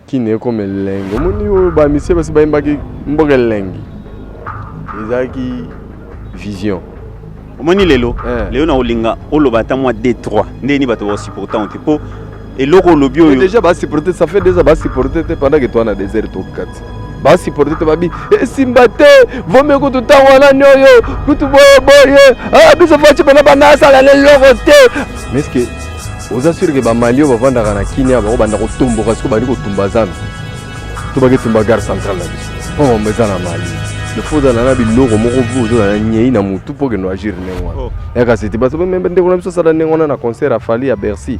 Kini ekoma elengi. Omoni oyo ba misie basi bayembaki mboka elengi ezalaki vision. Omoni lelo eh. lelo nakolinga oloba ata mwa d 3 ndenge nini bato bakosupportango te mpo eloko olobi oyo déjà basupporte ça fait déjà basupporte te pendant que toi na désert tokati basupporte te babi esimba eh, te vomi kutu ntango wana nioyo kutu boye boye ah, biso faci pena bana asala na eloko te mais ce que oza sur ke bamali oyo bavandaka na kinia bango banda kotomboka siko bandi kotumba zando to baki tumba gare centrale na biso mpo mambo eza na mali lefo ozala na biloko moko vu ozala na nyei na motu mpo okende agir ndenge wana oh. yaka sete bato ndeko na biso asala ndenge wana na concert ya fali ya bercy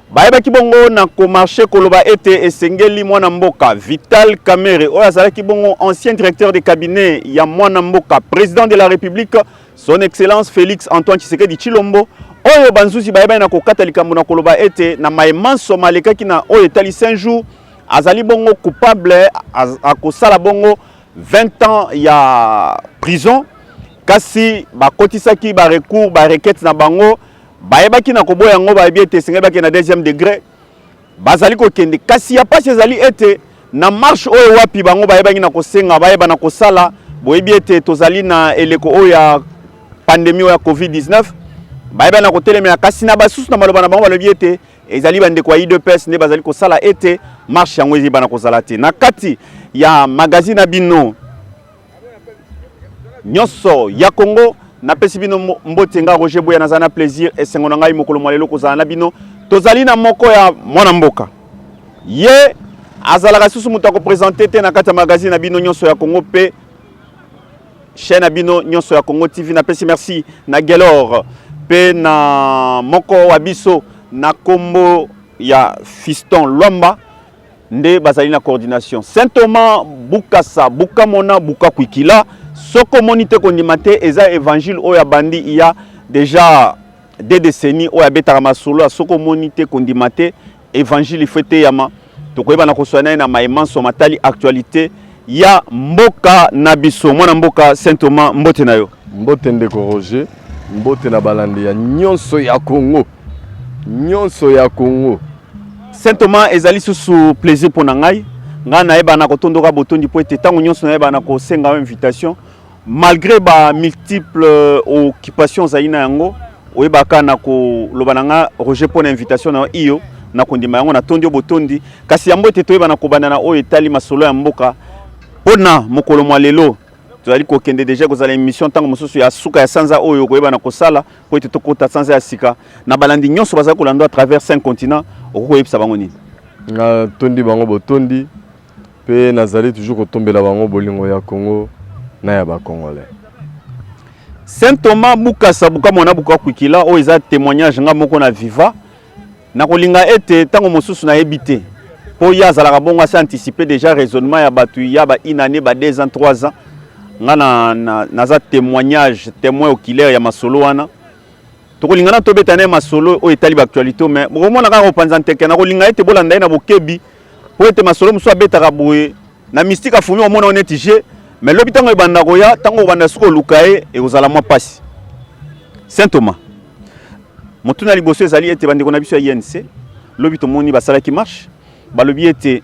Bayebaki bongo na komarche koloba ete esengeli mwana mboka Vital Kamerhe oyo azalaki bongo ancien directeur de cabinet ya mwana mboka president de la République son excellence Félix Antoine Tshisekedi Tshilombo oyo banzuzi bayebani na kokata likambo na koloba ete na maye manso malekaki na oyo etali 5 jours azali bongo coupable akosala bongo 20 ans ya prison kasi bakotisaki ba recours ba requête na bango Bayebaki na koboya yango, bayebi ete esengeli bakende na deuxième degré, bazali kokende. Kasi ya pasi ezali ete na marche oyo wapi bango bayebaki na kosenga bayeba na kosala, boyebi ete tozali na eleko oyo ya pandemie oyo ya Covid-19, bayebaki na kotelemela. Kasi na basusu na maloba na bango balobi ete ezali bandeko ya udps nde bazali kosala ete marche yango ezibana kozala te na kati ya magazine na bino nyonso ya Congo napesi bino mbote nga Roger Boya naza na plaisir esengo na ngai mokolo mwa lelo kozala na bino tozali na moko ya mwana mboka ye azalaka susu moto akopresente te na kati ya magazine na bino nyonso ya Congo mpe chaîne na bino nyonso ya Congo TV napesi merci na Gelor mpe na moko wa biso na kombo ya Fiston Lwamba nde bazali na coordination saint thomas bukasa bukamona bukakuikila soko omoni te kondima te eza evangile oyo abandi iya deja de décennie oyo abetaka masolo ya soko omoni te kondima te evangile ifo eteyama tokoyeba na koswa na ye na maye manso matali actualité ya mboka na biso mwana mboka saint thomas mbote na yo mbote ndeko roger mbote na balandi ya nyonso ya congo Nyonso ya Congo. Saint Thomas ezali susu plaisir pona ngai. Ngai nayeba na kotondoka botondi po ete tango nyonso nayeba na kosenga yo invitation malgré ba multiples occupations ozali na yango oyebaka na koloba na nga Roger pona invitation na yo iyo na kondima yango natondi yo botondi kasi yambo ete toyeba na kobanda na oyo etali masolo ya mboka pona mokolo mwa lelo tozali kokende deja kozala emission ntango mosusu ya suka ya sanza oyo koyeba na kosala mpo ete tokota sanza ya sika na balandi nyonso bazali kolanda à travers cinq continent okoki koyebisa bango nini natondi bango botondi mpe nazali toujours kotombela bango bolingo ya congo na ya bacongolais saint thomas bukasa bukamwana bukakwikila oyo eza témoignage nga moko na viva Nakolinga ete ntango mosusu nayebi te mpo ye azalaka bongo asi anticipe déjà raisonnement ya bato ya ba une année ba deux ans trois ans nga na, na, naza témoignage témoin oculaire ya masolo wana tokolinga na tobeta naye masolo oyo etali baactualité mais bokomona kaka kopanza nteke nakolinga ete bolanda ye na bokebi mpo ete masolo mosusu abetaka boye Na mystique afumi omona yo neti je mais lobi ntango ebanda koya ntango obanda soki oluka ye ekozala mwa mpasi. Saint Thomas motuna liboso ezali ete bandeko na biso ya INC lobi tomoni basalaki marche balobi ete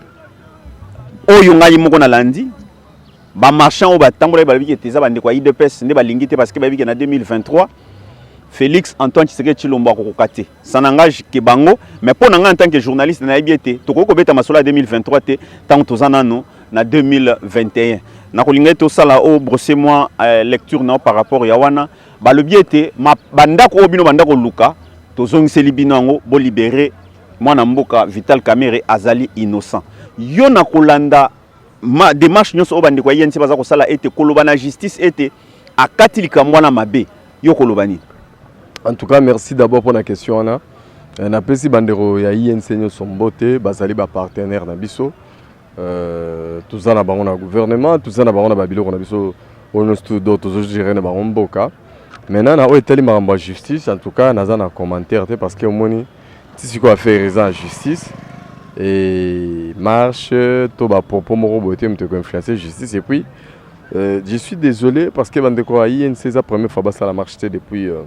oyo ngai moko nalandi bamarchand oyo batambolaki balobiki ete eza bandeko ya idps nde balingi te parce que bayebi ke na 2023 félix antoine tshisekedi tshilombo akokoka te ça n'engage que bango mais mpo na ngai en tant que journaliste nayebi ete tokoki kobeta masolo ya 2023 te ntango toza nano na 2021 nakolinga ete osala o brosse mwa eh, lecture nao par rapport ya wana balobi ete bandako oyo bino banda koluka tozongiseli bino yango bolibere mwana mboka vital kamere azali innocent yo na kolanda ma demarche nyonso oyo bandeko ya INC baza kosala ete koloba na justice ete akati likambo wana mabe yo koloba nini en tout cas merci d'abord mpona question wana euh, napesi bandeko ya INC nyonso mbote bazali bapartenaire na biso euh, toza na bango na gouvernement toza na bango na babiloko na biso oyo nyonso tudo tozogere na bango mboka maintenant na oyo etali makambo ya justice en tout cas naza na commentaire te parce que omoni Ti sikoyo affaire eza en justice et marche to ba propos moko boye te moto eko influencer justice et puis euh, je suis désolé parce que bandeko ya INC eza première fois basala marche te depuis euh,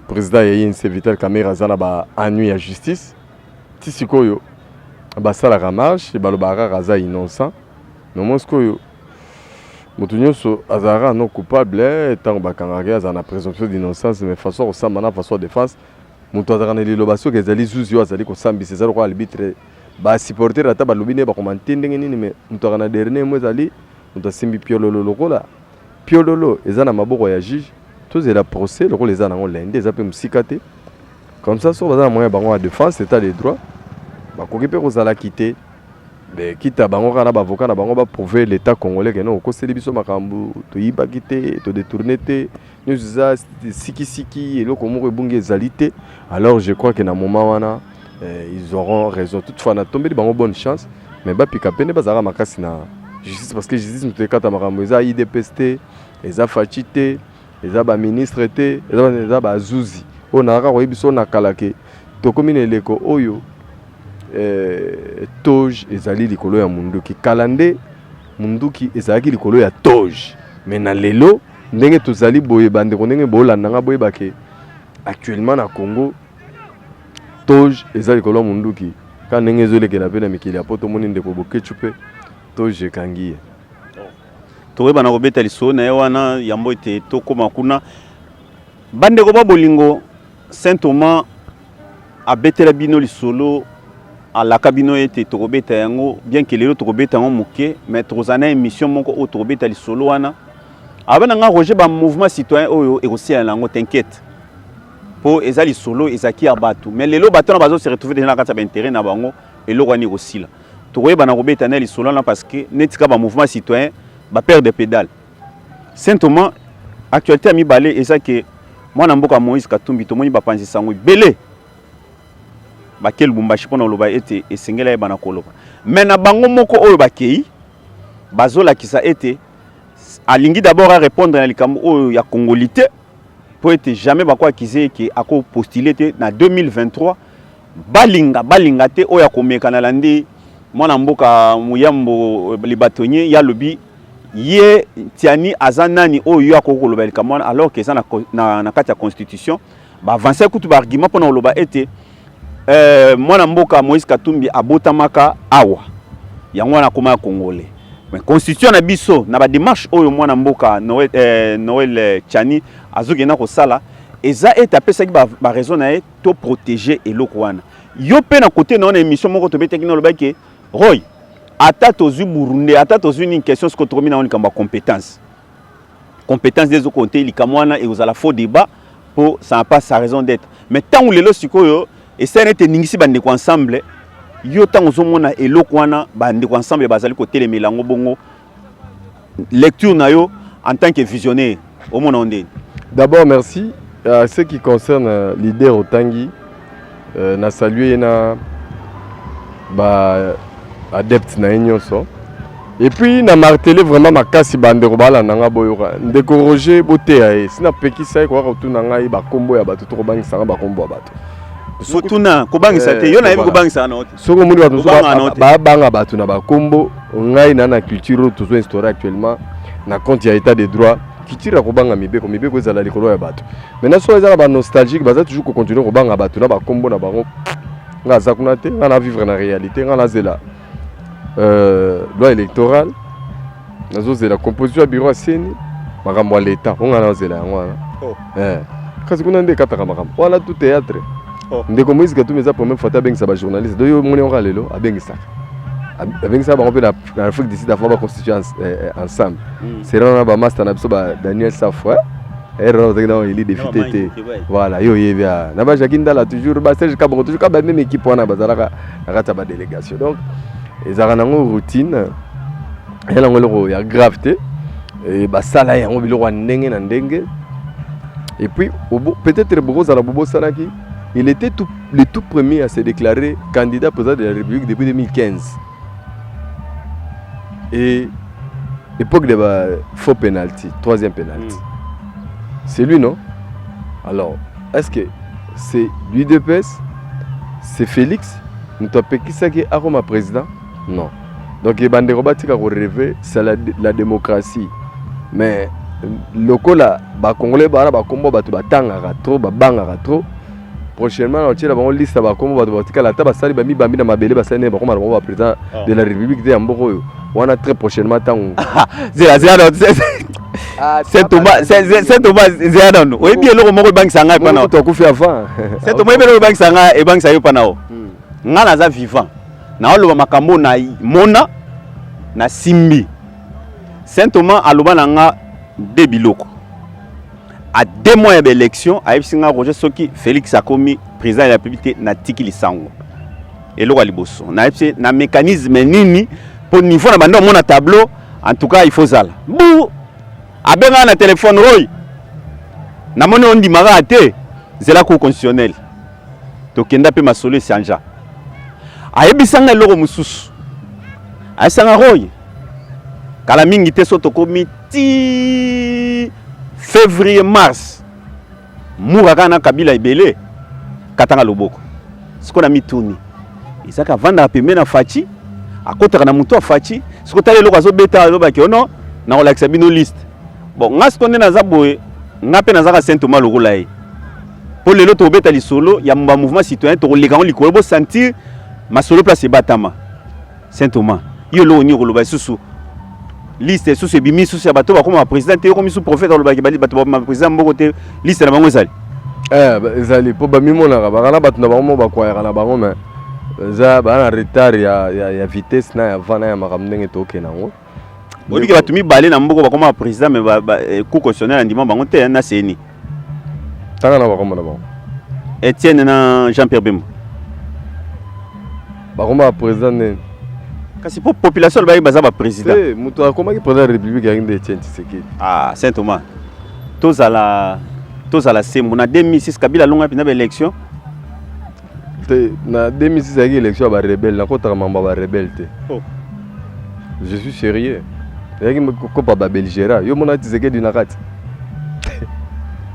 président ya INC Vital Kamerhe aza na ba annui ya justice ti sikoyo basalaka marche balobaka kaka aza innocent mais moi sikoyo moto nyonso azalaka no coupable ntango bakangaka ye azala na présomption d'innocence mais façon ya kosamba na façon ya défense Moto azalaka na liloba soki ezali zuzi oyo azali kosambisa eza lokola arbitre ba supporter ata balobi nde bakoma te ndenge nini me moto aka na dernier mo ezali moto asimbi piololo lokola piololo eza na maboko ya juge tozela procès lokola eza nango lende eza mpe mosika te comme ça soki baza na moyen bango ya défense état de droit bakoki mpe kozala kite mais kita bango kaka na bavoka na bango baprouve l'état congolais kene okoseli biso makambo toyibaki te todetourne te nyonso eza sikisiki eloko moko ebungi ezali te alors je crois que na moment wana eh, ils auront raison toutefois natombeli bango bonne chance mais bapika mpe nde bazalaka makasi na justice parce que justice moto ekata makambo eza idps te eza faci te eza baministre te eza bazuzi oyo nazalaka koyebi so na kala ke tokomi na eleko oyo eh, toge ezali likolo ya monduki kala nde monduki ezalaki likolo ya toge me na lelo Ndenge tozali boye ba ndeko ndenge bolanda nga boyeba ke actuellement na Congo toge eza likolo ya munduki ka ndenge ezolekela mpe na mikili ya poto omoni ndeko boketshu mpe toge ekangi ye tokoyeba na kobeta lisolo na ye wana yambo ete tokóma kuna bandeko ba bolingo Saint Thomas abetela bino lisolo alaka bino ete tokobeta yango bien que lelo tokobeta yango moke mais tokozala na émission moko oyo tokobeta lisolo wana aba na ngai roger bamouvement citoyen oyo ekosila na yango t'inquiète mpo eza lisolo ezalaki ya bato mais lelo bato wana bazo se retrouve deja na kati ya bainteret na bango eloko wana ekosila tokoyebana kobeta na lisolo wana parce que neti kaka bamouvement citoyen bapere de pédale Saint Thomas, actualité ya mibale eza ke mwana mboka Moïse Katumbi tomoni bapanzi sango ebele bake Lubumbashi mpo na koloba ete esengeli ayeba na koloba me na bango moko oyo bakei bazolakisa ete alingi d'abord a répondre na likambo oyo ya congolite mpo ete jamais bako akize eke akopostule te na 2023 Balinga balinga te oyo akomeka na landi mwana mboka muyambo le batonye ya lobi ye tiani aza nani oyo yo akoki koloba likambo wana alors que eza na, na, na kati ya constitution ba avancer kutu ba argument mpona koloba ete euh, mwana mboka Moïse Katumbi abotamaka awa yango wana akoma ya congolais mais constitution na biso na ba démarche oyo mwana mboka Noël, euh, Noël Chani azokenda kosala eza ete apesaki ba, ba raison na ye to protéger eloko wana yo mpe na kote na yo na émission moko tobetaki na olobaki ke roy ata tozwi burunde ata tozwi nini question siko tokomi na yango likambo ya compétence compétence nde ezokonte likambo wana ekozala faux débat mpo ça na pas sa raison d'être mais ntango lelo sikoyo esali nete eningisi bandeko ensemble yo ntango ozomona eloko wana bandeko ensemble bazali kotelemela yango bongo lecture na yo en tant que visionnaire omona onde d'abord merci à ce qui concerne euh, l'idée otangi euh, na saluer na ba adepte na ye nyonso et puis na martele vraiment makasi bandeko balanda ngai boyoka ndeko roger boteya ye si napekisa ye koya kotuna ngai bakombo ya bato to kobangisa ngai bakombo ya bato kotuna kobangisa te eh, yo nayebi kobangisa na yo te soki omoni bato mosusu babanga bato na bakombo ngai na na culture oyo tozo instaure actuellement na compte ya état de droit culture ya kobanga mibeko mibeko ezala likolo ya bato maintenant soki ezaka banostalgique baza toujours kocontinue kobanga bato na bakombo na bango ngai aza kuna te ngai na vivre na réalité ngai nazela euh, loi électorale nazozela composition ya bureau ya seni makambo ya leta mpo ngai nazela yango wana oh. eh. kasi kuna nde ekataka makambo wana tout théâtre oh. ndeko moïse katumi eza première fois te abengisa bajournaliste do yo moni yango lelo abengisaka abengisaka bango mpe na afrique du sud avant baconstitue eh, eh, ensemble hmm. sera wana bamaster na biso ba daniel safo ere wana ozalaki nao eli defite te voilà yo oyebi ah. na bajaki ndala toujours baserge kabongo toujours kaba meme équipe wana bazalaka na kati ya badélégation donc ezalaka nango routine ya nango eloko ya grave te eh, basala yango biloko ya ndenge na ndenge et puis peut-être bokozala bobosanaki il était tout, le tout premier à se déclarer candidat président de la république depuis 2015 et époque de ba faux penalty troisième penalty mm. c'est lui non alors est-ce que c'est l'udps c'est félix moto apekisaki akoma président Non. Donc ba ndeko batika ko rêver, c'est la, la démocratie. Mais lokola ba congolais ba ba kombo batu batangaka trop, ba bangaka trop. Prochainement na otiela bango liste ba kombo batu batikala ata basali ba mibambi na mabele basali ne bakoma bango ba président de la république de ya mboko oyo. Wana très prochainement tango. Zela zela Ah, saint thomas saint thomas nzeya nanu oyebi eloko moko ebangisa ngai epa nao akufi avant saint thomas oyebi eloko ebangisa ngai ebangisa yo epa nao Nga naza vivant naoloba makambo na mona na simbi. Saint Thomas aloba na nga de biloko a deux mois ya baélection ayebisi nga Roger soki Felix akomi président ya la République te natiki lisango eloko ya liboso nayebisi na mécanisme nini mpo niveau na banda omona tableau en tout cas il faut zala bu abengaka na telefone oyo namoni ondimaka te zela cour constitutionnelle tokenda mpe masolo esanja ayebisanga eloko mosusu ayebisanga roye kala mingi te so tokomi ti février mars mura kaka na kabila ebele katanga loboko sikoyo na mituni ezaka avandaka pembe na faci akotaka na motu ya faci sikoyo tala eloko azobeta alobaki ono nakolakisa bino liste Bon, nga siko nde naza boye, nga pe nazaka Saint Thomas lokola ye. Po lelo tobeta lisolo ya mba mouvement citoyen tokoleka ngo likolo bo sentir masolo place ebatama. Saint Thomas, yo lo nyo koloba susu liste susu ebimi susu ya bato bakoma ba president te yokomi su prophète alobaki bali bato ba president mboko te liste na bango ezali. Eh, ezali po bamimonaka baka na bato na bango mo bakwayaka na bango mais eza baa na retard ya, ya, ya vitesse na ya vana ya makambo ndenge tokende yango oyebi ke bato mibale na mboka bakoma ba président mais eh, cour constitutionnel andima bango te na ceni tanga na bakoma na bango etienne na jean pierre bembo bakoma ba président nini kasi mpo population alobaki baza baprésident eh, moto akomaki président ya république yangi nde etienne tshisekedi ah saint thomas tozala tozala sembo na 2006 kabila alongaki mpenza baélection te na 2006 ezalaki élection ya ba rebelle nakotaka mambo ya ba rebelle te oh. je suis sérieux ezalaki kokopa ba belgera yo mona tisekedi na kati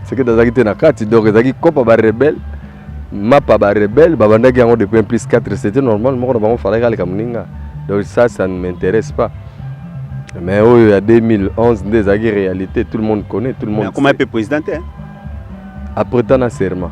tisekedi azalaki te na kati donc ezalaki kopa ba rebelle mapa ba rebelle babandaki yango depuis un plus 4 c'était normal moko na bango falaki aleka moninga donc ça ça ne m'intéresse pas mais oyo ya 2011 nde ezalaki réalité tout le monde connaît tout le monde akoma mpe président te après tana serment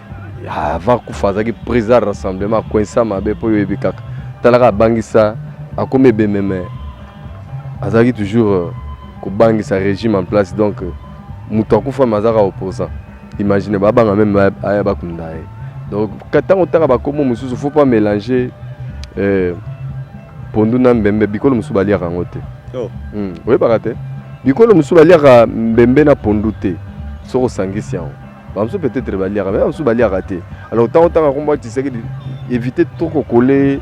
avant kufa azalaki président ya rassemblement akoinsa mabe mpo oyebi kaka talaka abangisa akomi ebembe me azalaki toujours euh, kobangisa régime en place donc euh, moto akufa me azalaka opposant imagine babanga meme aya bakunda ye donc ntango otaka bakombo mosusu faut pas mélanger euh, pondu na mbembe bikolo mosusu baliaka yango te oh. hmm, oyebaka te bikolo mosusu baliaka mbembe na pondu te soki osangisi yango bamosusu peut-être baliaka mais bamosusu baliaka te alors ntango otanga kombo atisaki éviter trop kokole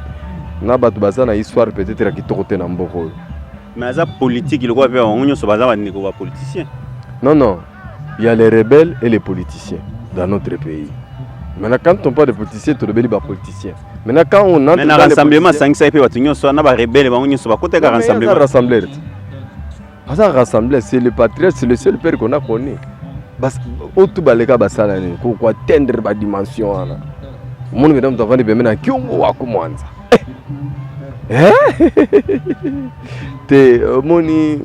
na bato baza na histoire peut-être ya kitoko te na mboka oyo mais aza politique lokola mpe bango nyonso baza bandeko ba politicien non non il y a les rebelles et les politiciens dans notre pays maintenant quand on parle de politicien tolobeli bapoliticien maintenant quand on entre na rassemblement asangisaki mpe bato nyonso wana na barebele bango nyonso bakota kaka rassemblement rassembleur te aza rassemble c'est le patriote c'est le seul père qu'on a connu oyo tu baleka basala nini koatteindre badimension wana omoni kenda moto avandi pembe na kiongo wako mwanza eh? te omoni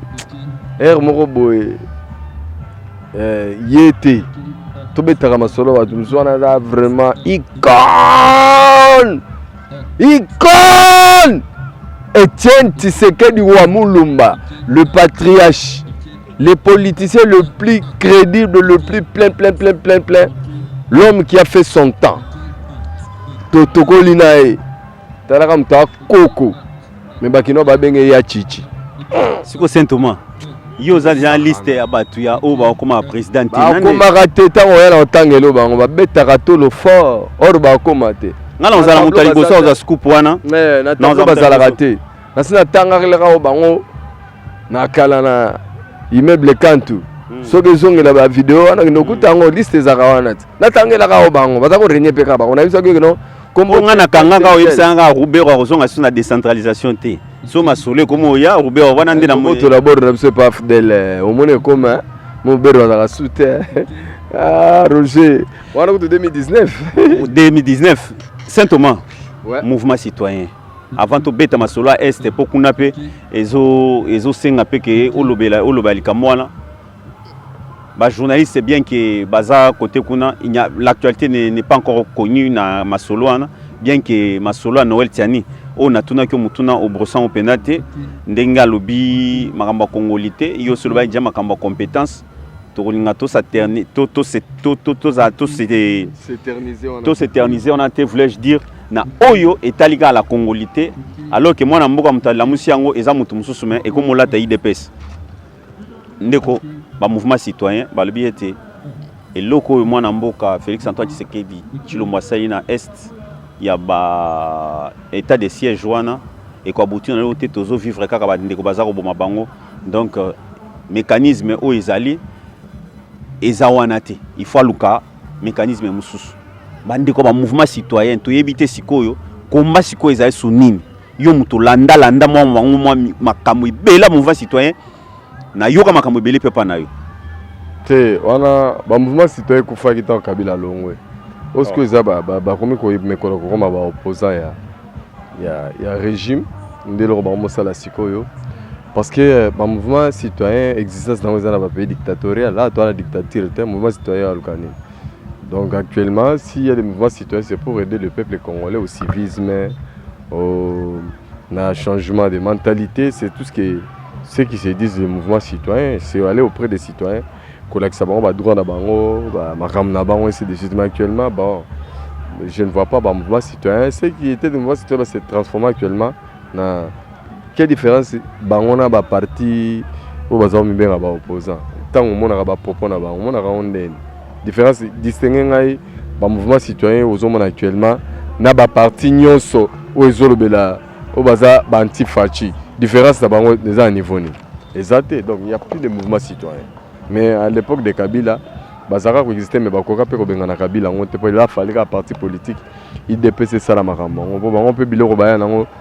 ere moko boye eh, ye te tobetaka masolo bato mosu wana aza vraiment icone Icône Etienne Tshisekedi wa Mulumba, le patriarche, le politicien le plus crédible, le plus plein, plein, plein, plein, plein, l'homme qui a fait son temps. Totokoli na ye talaka moto akoko Mais bakino ba benge ya chichi. Siko Saint Thomas. Yo oza déjà liste ya batu ya oyo bakoma president te. Bakomaka te tango ya na otangelo bango babetaka tolo fort or bakoma te. Nga na ozala moto ya liboso oza scoop wana. Eh, na tango bazalaka te. Nasi natangakelaka o bango na kala na immeuble Kantu. Hmm. soki ezongela ba video wana kende okuta yango liste ezaka wana ti natangelaka o bango baza ko renye mpe kaka bango nayebi soki kino kombo nga na kanga nga oyebisa nga Rubero akozonga sous na décentralisation te so masolo ekoma oya Rubero wana nde na moto la bord na biso pa fidèle eh, omoni ekoma eh. mobero azalaka sous te eh. ah Roger wana kutu 2019 2019 Saint Thomas ouais. mouvement citoyen avant tobeta masolo ya este mpo kuna mpe ezosenga mpe ke olobela olobela likambo wana ba journaliste bien que baza côté kuna l'actualité n'est pas encore connue na masolo wana bien que masolo ya Noël Tiani oyo natunaki yo motuna obrosan o mpenza te ndenge alobi makambo ya kongoli te yo osi olobaki ja makambo ya compétence tokolinga tos'éterniser wana te voulais-je dire na oyo etali kaka la kongoli te alors que mwana mboka moto alamusi yango eza moto mosusu me ekomolata idps Ndeko, ba mouvement citoyen balobi ete eloko oyo mwana mboka Felix Antoine Tshisekedi Tshilombo asali na est ya ba état de siège wana ekoabuti na lelo te tozo vivre kaka bandeko baza koboma bango donc euh, mécanisme oyo ezali eza wana te il faut aluka mécanisme mosusu bandeko ba mouvement citoyen toyebi te sikoyo komba sikoyo ezali su nini yo moto landa landa mwa mwango mwa makambo ebela mouvement citoyen nayoka makambo ebele mpe epa na yo te wana bamouvement citoyen ekufaki ntango kabila alongwe oyo sikoyo eza bakomi komekola kokoma baopposant ya, ya, ya régime nde eloko bango mosala sikoyo parce que euh, bamouvement citoyen existence nango eza na bapays dictatorial ato wana dictature te mouvement citoyen aluka nini donc actuellement s'il y a des mouvements citoyens c'est pour aider le peuple congolais au civisme euh, na changement de mentalité c'est tout ce qui ceux qui se disent le mouvement citoyen c'est aller auprès des citoyens kolakisa bango badroit na bango makambo na bango ainsi de suite mais actuellement bon je ne vois pas bamouvement citoyen ceux qui étaient de mouvement citoyen se transforme actuellement na Quelle différence bango na ba parti oyo baza komibenga ba opposant ntango omonaka ba propos na bango omonaka yango ndeni différence distingue ngai ba mouvement citoyen ozomona actuellement na ba parti nyonso oyo ezolobela oyo baza ba anti faci différence na bango eza na niveau nini eza te donc il y a plus de mouvement citoyen mais à l'époque de kabila bazalaka koexiste me bakoka mpe kobengana kabila yango te mpo ela falika parti politique idps esala makambo yango mpo bango mpe biloko baya nango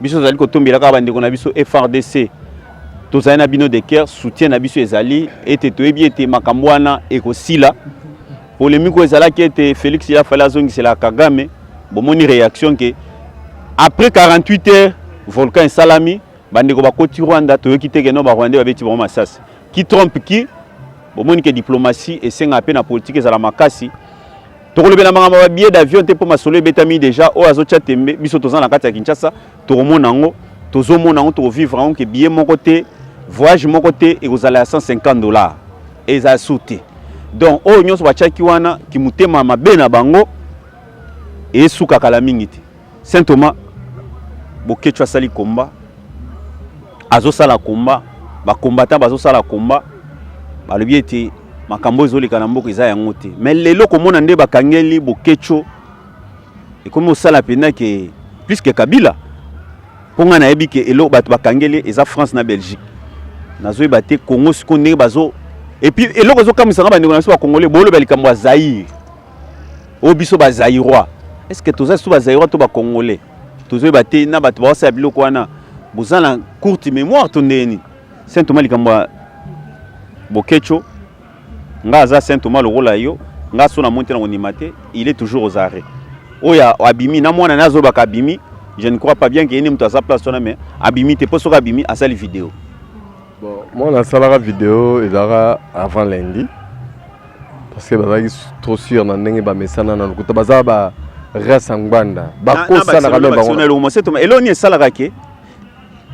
biso tozali kotombela kaka bandeko na biso frdc tozali na bino de cœur soutien na biso ezali ete toyebi ete makambo wana ekosila polemiki oyo ezalaki ete félix ya fali azongisela kagame bomoni réaction ke après 48 heures volcan esalami bandeko bakoti rwanda toyoki te keno barwandais babeti bango masasi ki trompe ki bomoni ke diplomatie esengaa mpe na politike ezala makasi tokolobela makambo ba billet d'avion te mpo masolo ebetami deja oyo azotya tembe biso toza na kati ya kinshasa tokomona yango tozomona yango tokovivre yango ke billet moko te voyage moko te ekozala ya 150 dollars eza su te donc oyo nyonso batyaki wana kimotema mabe na bango esukaka la mingi te Saint Thomas Boketshu asali combat azosala combat ba combattant bazosala combat balobi ete makambo ezoleka na mboka eza yango te mais lelo komona nde bakangeli Boketshu ekomi osala mpenza ke plus ke Kabila mpo ngai nayebi ke elo bato bakangeli eza France na Belgique nazoyeba te Congo sikoyo ndenge bazo epuis eloko ezokamwisa ngai bandeko na biso bakongole bolobela likambo ya Zaire o biso ba Zaïrois est ce que toza sous ba Zaïrois to ba Congolais tozo ba te na bato ba wasa biloko wana boza na courte mémoire to ndeni Saint Thomas likambo Bokecho nga aza Saint Thomas lokola yo nga so na monte na konima te il est toujours aux arrêts oya abimi na mwana nazo baka abimi je ne crois pas bien que yene mutu aza place wana mais abimi te po soka abimi asali vidéo Bon, moi nasalaka video ezalaka avant lundi parce que bazalaki trop sûr na ndenge bamesana na lokuta baza ba race ya ngbanda bakosanaka me bangoeloko nini esalaka ke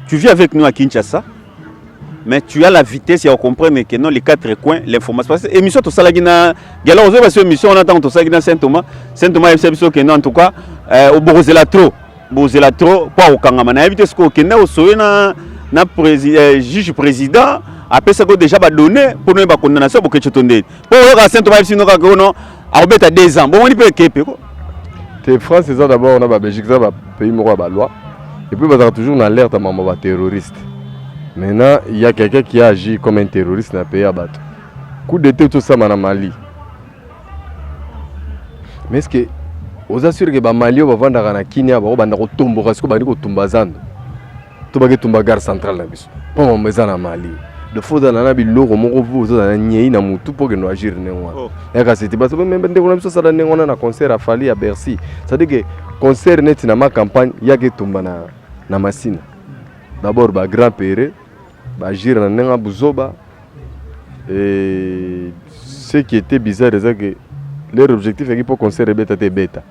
tu vis avec nous à kinshasa mais tu as la vitesse ya comprendre que non les quatre coins l'information parce que émission tosalaki na gala ozoyeba so émission wana ntango tosalaki na saint thomas saint thomas ayebisa biso ke non en tout cas euh, obokozela trop bozela trop mpo akokangama nayebi te soki okenda osoye na, na presi, eh, juge président apesa ko déjà badonne mpo noyeba condamnation ya boketsho to ndeni mpo oyoka sento bayebi sino kaka ono akobeta deux ans bomoni mpe ekepe ko te france eza d'abord na babelgique eza bapays moko ya baloi epuis bazalaka toujours na alerte ya mambo ya baterroriste maintenant ya quelqu'un qui a agi comme un terroriste na pays ya bato coup d'etat tosama na mali Mais est-ce que oza sûr que ba Mali oyo bavandaka na Kenya bako banda kotomboka siko bandi kotumba zando to baki tumba gare centrale na biso mpo mambo eza na Mali de faut ozala na biloko moko vu ozala na nyei na mutu mpo okende agir ndenge wana oh. yaka sete bato meme ndeko na biso asala ndenge wana na concert ya Fally ya Bercy c'est-à-dire que concert neti na ma campagne yaka etumba na, na Masina d'abord ba grand pere Ba agir na ndenge ya buzoba et ce qui était bizarre eza que leur objectif yaki mpo concert ebeta te ebeta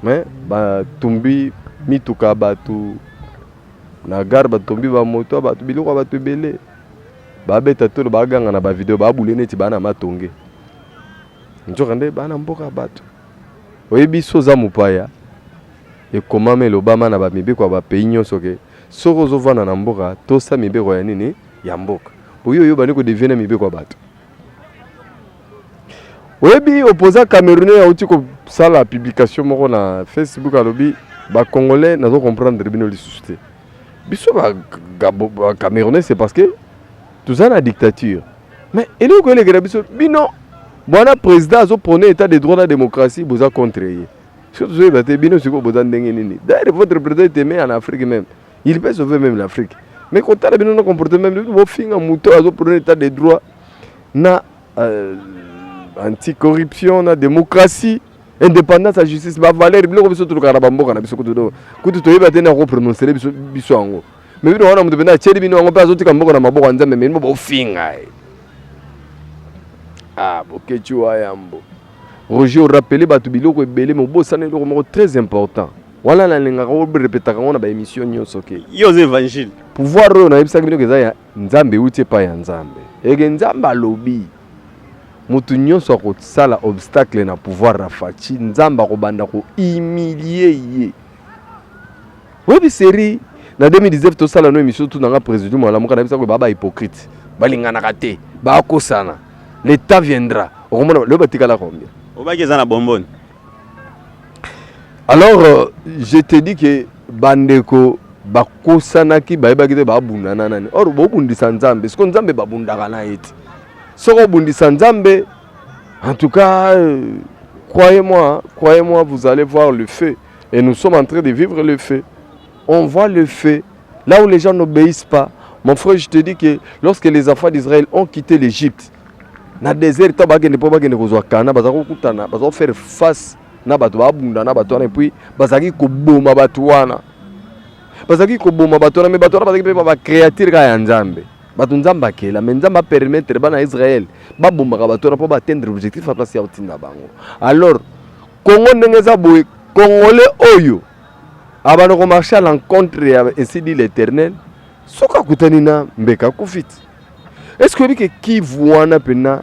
mais batumbi mituka ya bato na gare batombi bamoto ya bato biloko ya bato ebele babeta tolo baganga na bavideo babule neti baa na matonge nzoka nde baa na mboka ya bato oyebi so oza mopaya ekomama elobama na bamibeko ya bapays nyonso ke okay. Soki ozo vanda na mboka tosa mibeko ya nini ya mboka. Oyo yo bani ko devier na mibeko ya bato. Oyebi opposant camerounais auti ko sala publication moko na Facebook alobi ba congolais nazo comprendre bino lisusu te. Biso ba, ba camerounais c'est parce que toza na dictature. Mais eloko elekela biso bino bwana président azo prôner état de droit na démocratie boza contre ye. Soki tozoyeba te bino sikoyo boza ndenge nini? D'ailleurs votre président est aimé en Afrique même. Il peut sauver même l'Afrique. Mais kotala bino na comportement bino bofinga moto azo prône état de droit na euh, anticorruption na démocratie indépendance ya justice bavaleur biloko biso tolukaka na bamboka na biso kutu kutu toyeba te nde akoprononsele biso biso yango me bino wana moto mpenza atyeli bino yango mpe azotika mboka na maboko ya nzambe me bino bofinga ye ah bokeci wa yambo Roger o rappeler batu biloko ebele mais obosana eloko moko très important. Wana nalingaka o repetaka ngo na ba emission nionso ke. Yo oza evangile. Pouvoir oyo nayebisaki bino eza ya Nzambe euti epai ya Nzambe. Eke Nzambe alobi mutu nionso akosala obstacle na pouvoir ya Fatshi, Nzambe akobanda ko humilier ye. Oyebi serie na 2019 tosala no emission tu nanga président malamuka nayebisa ko baba hypocrite balinganaka te bakosana le temps viendra okomona lelo batikala combien obaki eza na bomboni alors euh, je te dis que bandeko bakosanaki bayebaki te babundana nani or bobundisa nzambe siko nzambe babundaka na ye te soki obundisa nzambe en tout cas euh, croyez moi croyez moi vous allez voir le feu Et nous sommes en train de vivre le feu. On voit le feu. Là où les gens n'obéissent pas, mon frère, je te dis que lorsque les enfants d'Israël ont quitté l'Égypte, na désert to bakende mpo bakende kozwa kana baza kokutana baza kofaire face na bato babunda na bato wana epuis bazalaki koboma bato wana bazalaki koboma bato wana me bato wana bazalaki mpe bacréature kaka ya nzambe bato nzambe akela me nzambe apermettre bana ya israele babomaka bato wana mpo baatteindre objectif ya place ya kotinda bango alors Congo ndenge eza boye congolais oyo abanda ko marche à l'encontre ya ainsi dit l'éternel soki akutani na mbeka akufi ti est ce que oyebi ke kivu wana mpena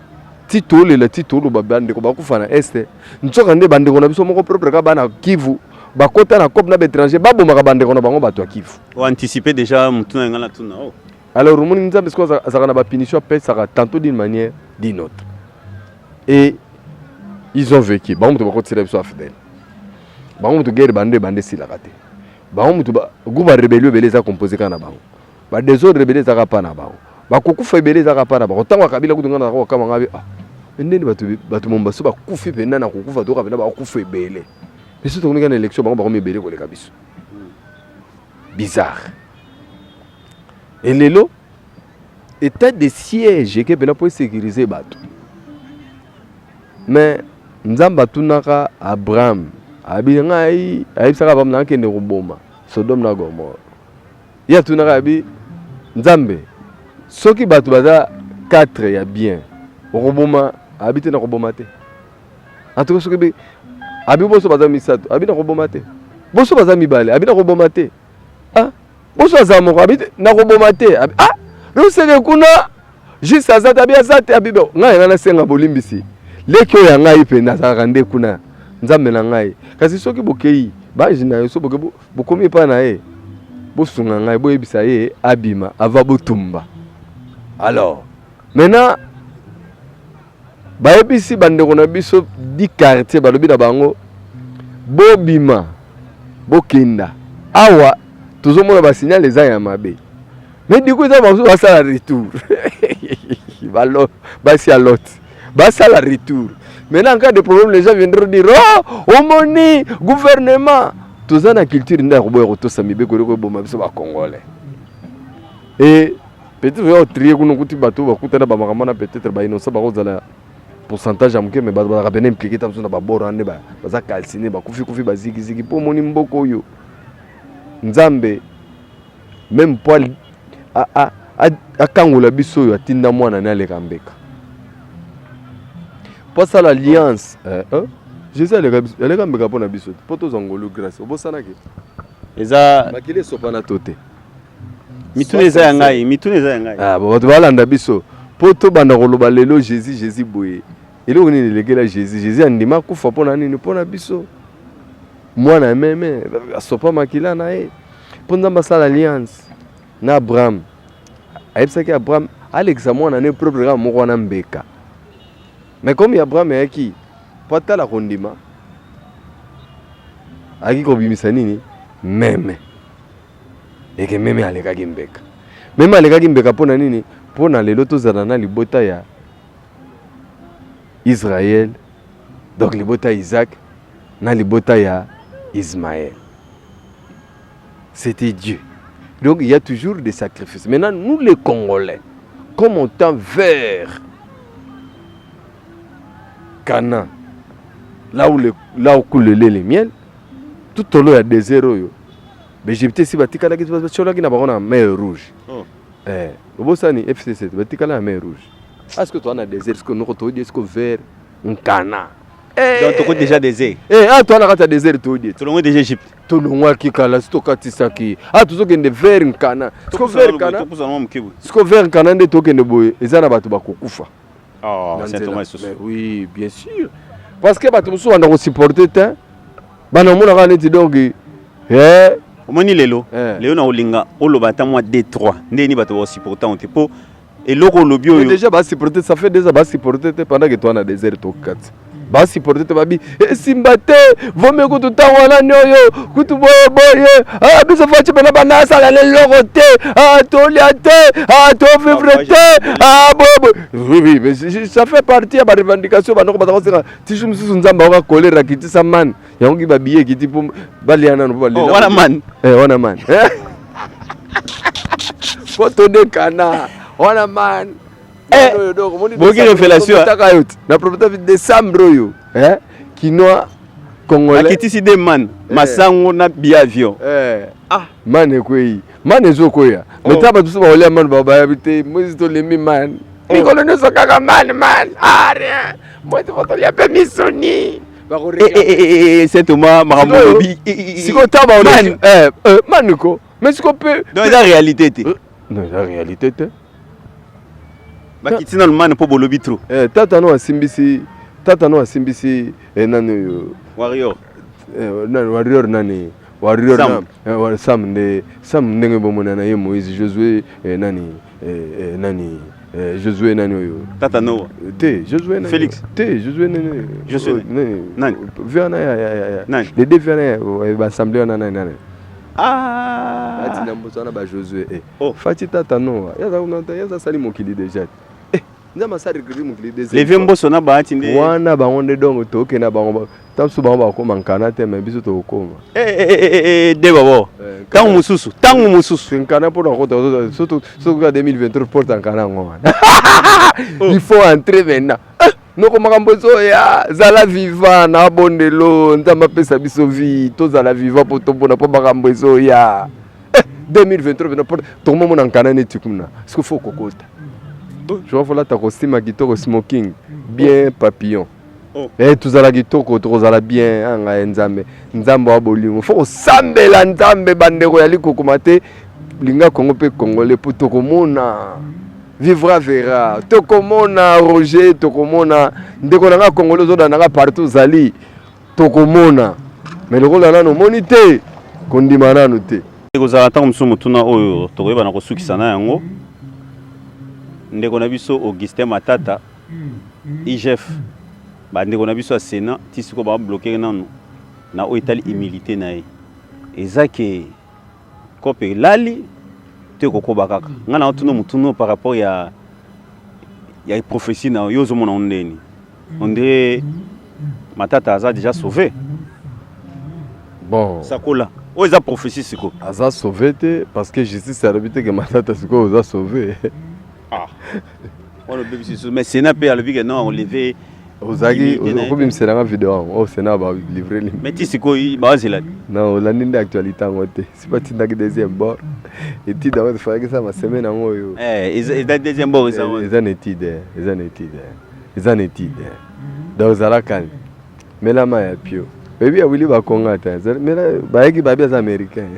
ti tolela ti toloba bandeko bakufa na este nsoka nde bandeko na biso moko propre ka bana kivu bakota na cope na baétranger babomaka bandeko na bango bato ya kivu oanticipe déjà motuna yanga na tuna o alors omoni nzambe sikoyo azalaka na bapunition apesaka tantôt d'une manière d'une autre et ils ont vécu bango moto bakotisela biso afdel bango moto guerre bando ebanda esilaka te bango moto groupe ya rebelio ebele eza compose kaka na bango badesordre ebele ezaka mpa na bango bakokufa ebele ezaka mpa na bango ntango akabila kutu ngai nazaka kokama ngai ah, ndeni bato momo baso bakufi mpenza na kokufa toyoka mpenza bakufa ebele biso tokonika na élection bango bakomi ebele koleka biso bizarre elelo etat de siège eke mpena mpo esecurise bato me nzambe atunaka abraham abi ngai ayebisaka abraham nakende koboma sodome na gomore ye atunaka abi nzambe soki bato baza 4 ya bien okoboma abi te nakoboma te antuka soki bi abi boso baza misato abi nakoboma te boso baza mibale abi nakoboma te ah Boso aza moko abi nakoboma te abi ah luseke kuna juste aza te abi aza te abi bo ngai nga nasenga bolimbisi leki oyo ya ngai mpe nazalaka nde kuna nzambe na ngai kasi soki bokei baji na yo so boke bokomi epai na ye bosunga ngai boyebisa ye abima ava botumba alors maintenant Bayebisi bandeko na biso di quartier, balobi na bango bobima bokenda awa tozomona basignale eza ya mabe me diku eza basusu basala retour basi ya lot basala retour maintenant en cas de problème les gens viendront dire oh omoni gouvernement toza na culture nde ya koboya kotosa mibeko eloko eboma biso bacongolais e Peut-être yo trier kuna kuti bato bakuta na bamakambo na peut-être ba innocent bakozala pourcentage ya moke mais bato bazalaka pene impliqué ta mosusu na baboro ande baza calcine bakufi kufi bazigizigi mpo omoni mboka oyo nzambe meme mpo akangola biso oyo atinda mwana ne aleka mbeka mpo asala alliance eh, eh, jésus aleka mbeka mpo na biso te mpo tozwa ngolu grace obosanaki eza makili esopana to te mituna eza ya ngai mituna eza ya ngai ah, bato balanda biso mpo tobanda koloba lelo jésus jésus boye eloko nini elekela jésus jésus andima kufa mpo na nini mpo na biso mwana ya meme asopa makila na ye mpo nzambe asala alliance na abraham ayebisaki abraham alekisa mwana ne propre kaka moko wana mbeka me komi abraham ayaki mpo atala kondima ayaki kobimisa nini meme eke meme alekaki mbeka meme alekaki mbeka mpo na nini mpo na lelo tozala na libota ya israel donc libota ya isaac na libota ya ismael c'était dieu donc il y a toujours des sacrifices maintenant nous les congolais comme on tend vers Canaan, là où, le, là où coule le lait et le miel, tout au long, il y a des erreurs. B'Egyptiens si batikalaki batiolaki na bango na mer rouge oh. eh, obosani fcc batikala na mer rouge aske ah, toa na désert siko noko toyedi siko vert nkana eh, donc toko déjà désert eh, ah, toa na kati ya désert toyedi tolongwe déjà egypte tolongwaki kala si tokatisaki ah, tozokende vert nkana siko vert nkana nde tokende boye eza na bato bakokufa Oh, na Saint Thomas nzela lisusu. Mais oui bien sûr parce que bato mosusu banda kosupporte te bana omonaka neti donc eh, omoni lelo Eh. lelo na olinga oloba ata mwa d 3 ndenge nini bato baosupporta yango te mpo eloko olobi mais oyo déjà basupporte ça fait déjà basupporte te pendant que toi na désert tokati basiporte te babi esimba eh, te vomi kutu ntango wana nioyo kutu boye boye ah, biso faci mpena banda asala na eloko te ah, tolia te ah, tovivre te boye boye ça fait partie ya barevendication bandoko baza kosenga tisu mosusu nzambe aoka kolera kitisa mani yango ki babiye ekiti mpo balia nano mpo balela oh, wana mani eh, wana mani mpo todekana wana mani Eh, boki revelation na profita vi décembre oyo eh, kinois congolais akitisi de man eh. masango na biavion ah man ekwei man ezokwea oh. meta bato so baolia man babayabi te mosi tolembi man oh. mikolo nyonso kaka man man are ah, mosi fotolia mpe misuni setoma makambo olobi sikoyo ntango baolmani ko mais sikoyo mpe eza réalité te eza réalité te bakiti na lumane mpo bolobi trop eh, tata no asimbisi tata no asimbisi eh, nani oyo warrior eh, nani warrior nani warrior sam, na, eh, sam nde sam ndenge bomona na ye moïse josué eh, nani eh, eh, nani eh, josué nani oyo tata noa te josué nani félix te josué nani josué oh, nani nani verna ya ya ya nani les deux verna ya eh, ba assemblée wana nani nani Ah! Bati na mboso wana ba Josue. Eh. Oh. Fati tata noa. Yaza kuna yaza sali mokili deja. Eh. Nza masari kiri mokili deja. Leve mboso na baati nde. Wana bango nde dongo toke na bango. Tamsu bango bakoma nkana te mais biso tokoma. Eh eh eh eh, eh, eh de babo. Eh, tango mususu, tango mususu. Nkana pour na kota surtout surtout 2023 porte nkana ngoma. Oh. Il faut entrer maintenant. noko makambo ezoya zala viva na bondelo nzambe apesa biso vie tozala viva mpo tomona mpo makambo ezoya 2023 eh, tokomomona nkana neti kuna siko fo kokota joa folata kosima kitoko smoking bien papillon oh. Eh, tozala kitoko tokozala bien anga ah, nzambe nzambe wa bolingo fo kosambela nzambe bandeko ya likukuma te linga kongo mpe kongole mpo tokomona Vivra vera tokomona Roger, tokomona ndeko na nga Congolais ozoda na nga partout ozali, tokomona mais lokola nanu omoni te kondima nanu te. Ekozala ntango mosusu motuna oyo tokoyeba na kosukisa na yango ndeko na biso Augustin Matata IGF bandeko na biso ya Sena ti sikoyo bablokere nanu na oyo etali humilité na ye eza ke Cope elali to ekokoba kaka. Ngai na otuna motuna par rapport ya ya prophétie na yo ozomona ngo ndeni. On dirait Matata aza déjà sauvé. Bon. Sakola. oyo eza prophétie sikoyo aza sauve te parce que justice alobi te ke matata sikoyo oza sauve Ah. On a bébé sur mais Sénat peut aller que non, on lever. ozalaki okobimisa nga video yango oyo sena balivre li mais ti sikoyo bazela na olandi nde actualité yango te si batindaki deuxième bord étude yango efalaki eza masemaine yango oyo eh, eza deuxième bord eza na étude eza na étude eza na étude donc ozalakani Mela ma ya pio. Baby ya Willy bakonga ata. Mela bayaki babi aza américain.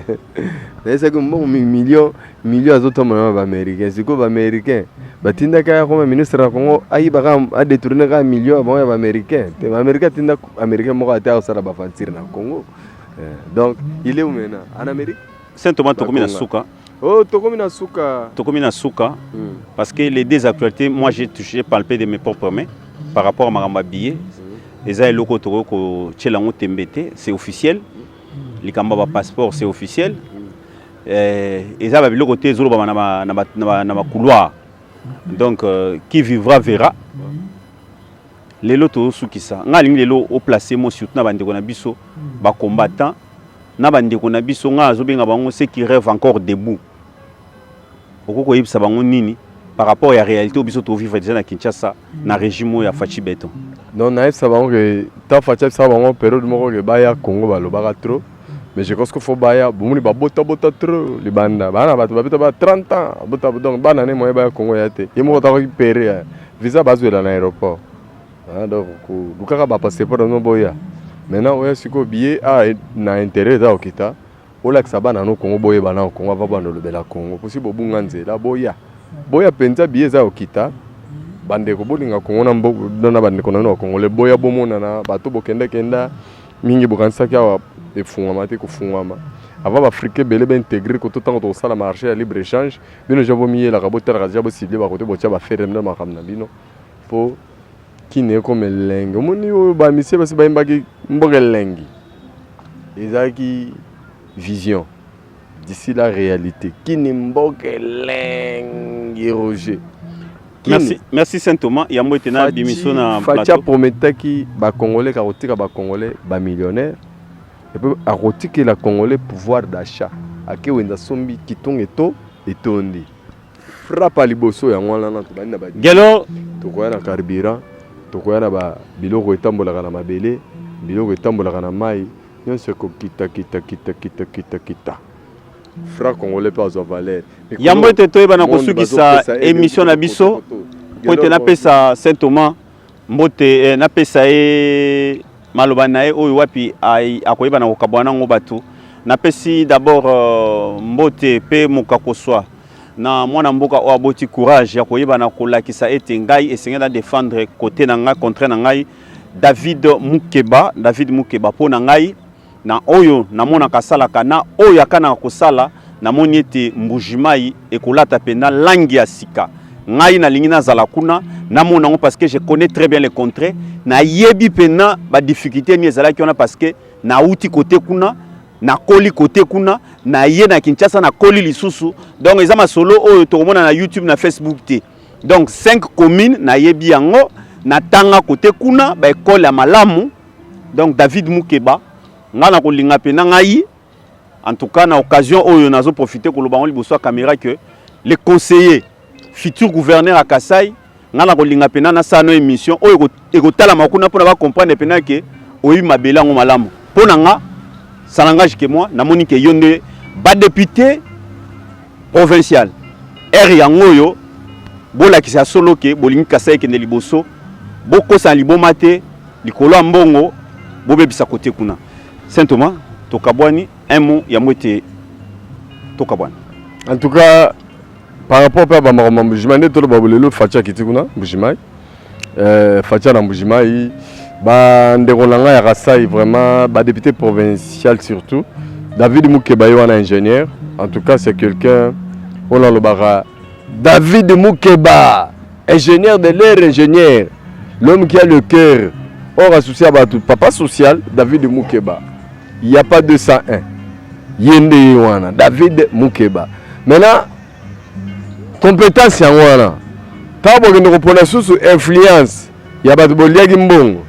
Nayesaki mbongo million million azotombola na baaméricain sikoyo baaméricain batindaki aya koma ministre ya congo ayibaka adetourne kaka million ya bango ya baaméricain te baaméricain atinda américain moko ate akosala baventure na congo eh, donc il est maintenant en amérique saint thomas tokomi na suka Oh, tokomi na suka. Tokomi na suka. Mm. Parce que les deux actualités, moi j'ai touché, palpé de mes propres mains par rapport à Maramba Billet. Mm. Eza eloko toko ko tshela ngo tembete, c'est officiel. Mm. Likamba ba passeport, c'est officiel. Mm. Euh, eza ba biloko te zolo ba na ba na ba na ba couloir. Donc euh, qui vivra verra. Mm. lelo tozosukisa ngai alingi lelo oplace mo surtout na bandeko na biso hmm. bacombattant na bandeko na biso ngai azobenga bango ce qui rêve encore debout okoki koyebisa bango nini par rapport ya réalité oyo biso tovivre déjà na kinshasa na hmm. régime oyo ya faci beton donc nayebisa bango ke ntango faci abisaka bango periode moko ke baya congo balobaka trop mais je pense que faut baya bomoni babota bota trop libanda bana bato babeta ba 30 ans bota donc bana ne moyen baya Congo ya te ye moko takoki pere hein. visa bazwela na aéroport hein, donc lukaka ba passeport no boya maintenant oya sikoyo billet a ah, na intérêt eza okita olakisa bana no Congo boyeba na Congo ava banda olobela Congo posi bobunga nzela boya boya mpenza billet eza okita bandeko bolinga Congo na bandeko na bino bakongole boya bomonana bato bokendakenda mingi bokanisaki awa efungwama te kofungwama avant baafrika ebele baintegre koto ntango tokosala marché ya libre échange bino ja bomiyelaka botalaka ja bosible bakote botya bafereme na makambo na bino mpo kini ekoma elengi omoni oyo bamisie basi bayimbaki mboka elengi ezalaki vision D'ici la réalité. Kini mboka elengi Roger. Kini. Merci, merci Saint Thomas. Yango ete na bimiso na Fatia plateau. prometaki ba Congolais ka kotika ba Congolais ba millionnaires et puis akotiki la Congolais pouvoir d'achat. Ake wenza sombi kitunge to etondi. Frappe à liboso yango wana na tobandi na ba Gelo, tokoya na carburant tokoya na ba biloko etambolaka na mabele biloko etambolaka na mai Nionso eko kita kita kita kita kita kita. Fra congolais pe azwa valeur. Yambo ete toyeba na kosukisa emission na biso po ete napesa Saint Thomas mbote eh, napesa ye maloba na ye oyo wapi akoyeba na kokabwana nango bato napesi d'abord euh, mbote pe mokakoswa na mwana mboka oyo aboti courage ya koyeba na kolakisa ete ngai esengeli na defendre kote na ngai contraire na ngai David Mukeba, David Mukeba mpo na ngai na oyo namonaka asalaka na oyo akanaka kosala, namoni ete Mbujimayi ekolata mpenza langi ya sika. Ngai nalingi nazala kuna namona yango parce que je connais très bien le contraire, nayebi mpenza ba difficultés nini ezalaki wana parce que nauti kote kuna nakoli kote kuna naye na Kinshasa nakoli lisusu, donc eza masolo oyo tokomona na YouTube na Facebook te. donc 5 communes nayebi yango natanga kote kuna baekole ya malamu donc david mukeba ngai nakolinga mpe na ngai en tout cas na occasion oyo nazoprofite koloba yango liboso ya kamera ke le conseiller futur gouverneur ya kasai ngai nakolinga mpenza nasala no émission oyo ekotalama kuna pona ba comprendre pena ke oyebi mabele yango malamu mpo na nga ça n'engage que moi namoni ke yo nde badepute provincial ere yango oyo bolakisa ya solo ke bolingi kasai ekende liboso bokosana liboma te likolo ya mbongo bobebisa kote kuna saint thomas tokabwani un mot yango ete tokabwana en tout cas Par rapport pe ba makambo mbujima nde tolo ba bolelo Fatshi akiti kuna mbujimai. Euh Fatshi na mbujimai ba ndeko na ngai ya Kasai vraiment ba député provincial surtout David Mukeba ye wana ingénieur en tout cas c'est quelqu'un on a le bara David Mukeba ingénieur de l'air ingénieur l'homme qui a le cœur or associé à Papa social David Mukeba Il n'y a pas 201. Yende Yewana, David Mukeba. Maintenant, compétence yango wana ntango bokende kopona lisusu influence ya bato boliaki mbongo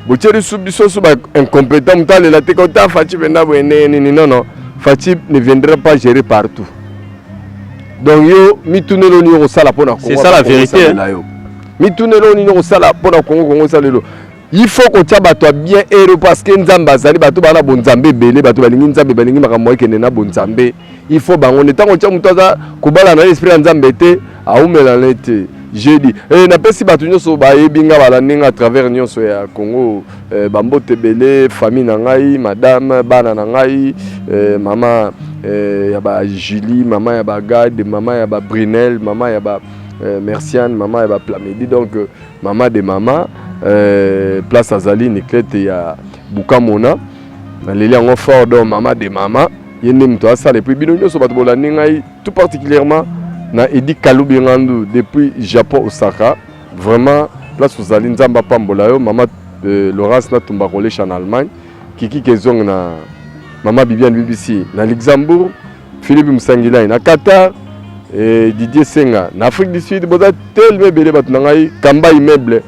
botye lisu biso so baincompétent moto alela te kota faci mpenza boye ndenge nini nono faci ne viendra pas gérer partout donc yo mituneli oyo nini okosala mpo na kongo la vérité yo mituneli oyo nini okosala mpo na kongo kongo esalelo il faut kotya bato ya bien ero parce que nzambe azali bato baa na bonzambe ebele bato balingi nzambe balingi makambo ekende na bonzambe il faut bango nde ntango otya moto aza kobala na ye esprit ya nzambe te aumela na ye te jeudi e, napesi bato nyonso bayebi nga bala ndenge à travers nyonso ya congo e, bambote ebele famille na ngai madame bana na ngai e, mama e, ya ba julie mama ya ba gade mama ya ba brunel mama ya ba e, merciane mama ya ba plamedi donc Mama de mama euh, place azali Niclette ya Bukamona naleli yango fort donc mama de mama ye nde moto asala epuis bino nyonso bato bolandi ngai tout particulièrement na edi kalubi ngandu depuis japon osaka vraiment place ozali nzambe apambola yo mama euh, laurence natumba kolesha na allemagne kiki kezong na mama bibiane bbc na luxembourg Philippe Msangilai na Qatar et eh, Didier Senga na Afrique du Sud boza tellement ebele bato na ngai kamba immeuble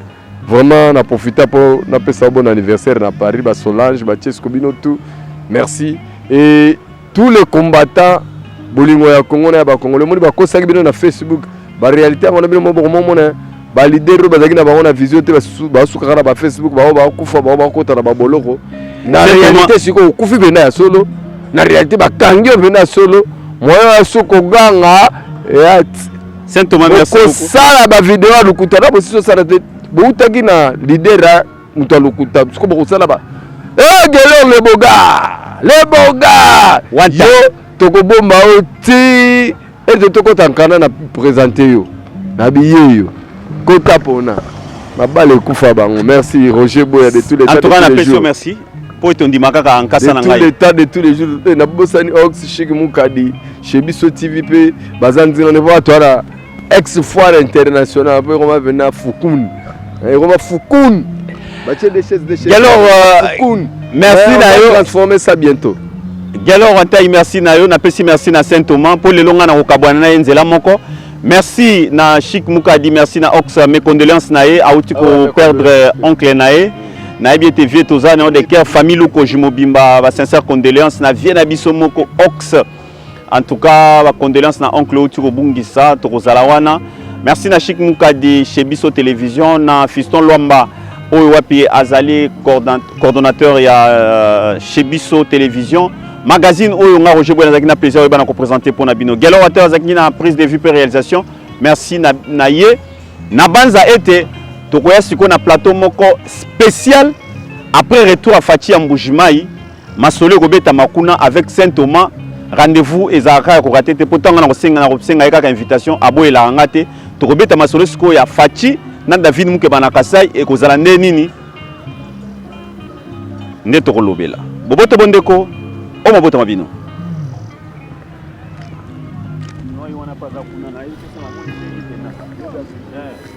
vraiment na profita mpo napesa bon anniversaire na Paris ba Solange ba Chesco bino tout merci et tous les combattants bolingo ya Congo na ya bakongole omoni bakosaki bino na Facebook ba realite yango na bino mo boko momona ba leader oyo bazalaki na bango na vision te basukaka na ba facebook bango bakufa bango bakota na baboloko na realite sikoyo okufi mpena ya solo na realite bakangi yo mpena ya solo moyo ya so koganga ya kosala bavideo ya lokuta na bosisi osala te boutaki na leader ya moto ya lokuta siko bokosala ba egelor eh, leboga leboga yo tokobomba yo ti Ete tokota nkanda na presente yo na biyeyo kota pona mabala ekufa bango. Merci Roger Boya de tous les temps. Antoine Apesio merci. Po ete ondima kaka nkasa na ngai. De tous les temps de tous les jours. Eh, na bosani Ox Chic Mukadi chez Biso TV pe bazanzi na nevo atwara ex foire internationale pe koma vena Fukun. Eh, koma Fukun. Batie des chaises, des chaises. Gelor, euh, Cocoon. merci Mais on na va yo. transformer ça bientôt. Gelor Antai, merci na yo. Napesi merci na Saint Thomas mpo lelo ngai nakokabwana na ye nzela moko. Merci na Chic Mukadi, merci na Ox, mes condoléances na ye. Auti Ah ouais, mes ko perdre condoléances. oncle na ye. nayebi ete vieux toza na yo de cœur famille lukoji mobimba ba sincère condoléance na vieux na biso moko ox En tout cas, ba condoléances na oncle Outi Kobungisa, tokozala wana. Merci na Chic Mukadi chez Biso Télévision na Fiston Lwamba oyo wapi azali coordonnateur ya euh, chez Biso Télévision. Magazine oyo nga Roger Boy nazaki na plaisir oyo bana ko présenter pona bino. Gelo Water azaki na prise de vue pe réalisation. Merci na, na ye. Na banza ete tokoya siko na plateau moko spécial après retour à Fatih Mbujimai Masolo ekobetama kuna avec Saint Thomas rendez-vous ezalaka ya kokate te mpo ntango na kosenga na kosenga ye kaka invitation aboyelaka nga te tokobeta masolo sikoyo ya faci na david mukeba na kasai ekozala nde nini nde tokolobela boboto bo ndeko o mabotama bino Yeah.